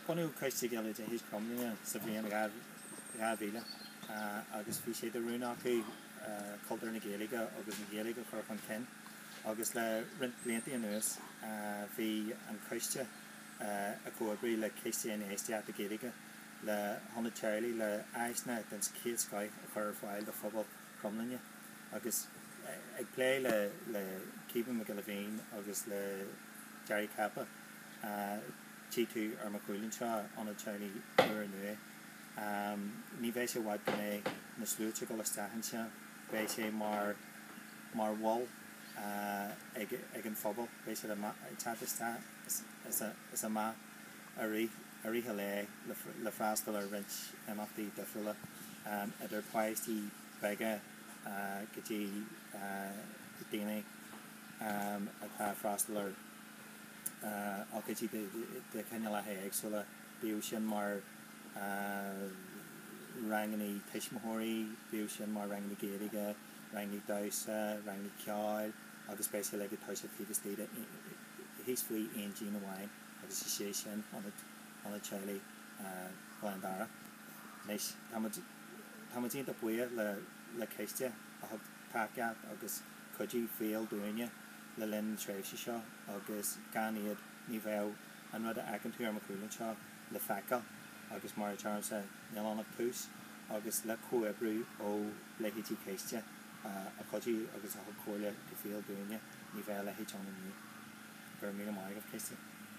Bunaíodh Coiste Gaeilge Chromghlinne sa bhliain 2000 agus bhí sé de rún acu cultúr na Gaeilge agus an Ghaeilge a chur chun cinn agus le roinnt blianta anuas bhí an coiste ag comhoibriú le Ciste Infheistíochta Gaeilge le hIonad Teaghlaigh le áiseanna den chéad scoith a chur ar fáil do phobal Chromghlinne agus ag plé le Caoimhín Mac Giolla Bhéin agus le Gerry Cappa tchí tú ar mo chúl anseo, Ionad Teaghlaigh úr nua. Ní bheidh sé i bhfad go mbeidh na sluaite ag dul isteach anseo. Beidh sé mar, mar mhol ag, ag an phobal. Beidh siad a' teacht isteach is a', is amach i rith, i rith a' lae le, le freastal ar roinnt imeachtaí difriúla, idir páistí beaga go dtí daoine atá a' freastal ar. ocáidí de chineálacha éagsúla, bíodh sin mar rangannaí tuismitheoirí, bíodh sin mar rangannaí Gaeilge, rangannaí damhsa, rangannaí ceoil agus beidh sé go léir ag tosú taobh istigh de, thíos faoi aon díon amháin agus is é sin ionad, ionad teaghlaigh Ghleann Darach. Anois, tá muid, tá muid iontach buíoch le, le Ciste a thug tacaíocht agus cuidiú fial dúinne. le linn na tréimhse seo agus gan iad ní bheadh an rud a fheiceann tú ar mo chúl anseo le feiceáil agus mar a deirimse níl ann ach tús agus le comhoibriú ó leithéidí Ciste a chuidigh agus a thug comhairle go fial dúinne ní bheadh a leithéid ann inniu. Go raibh míle maith agat Ciste.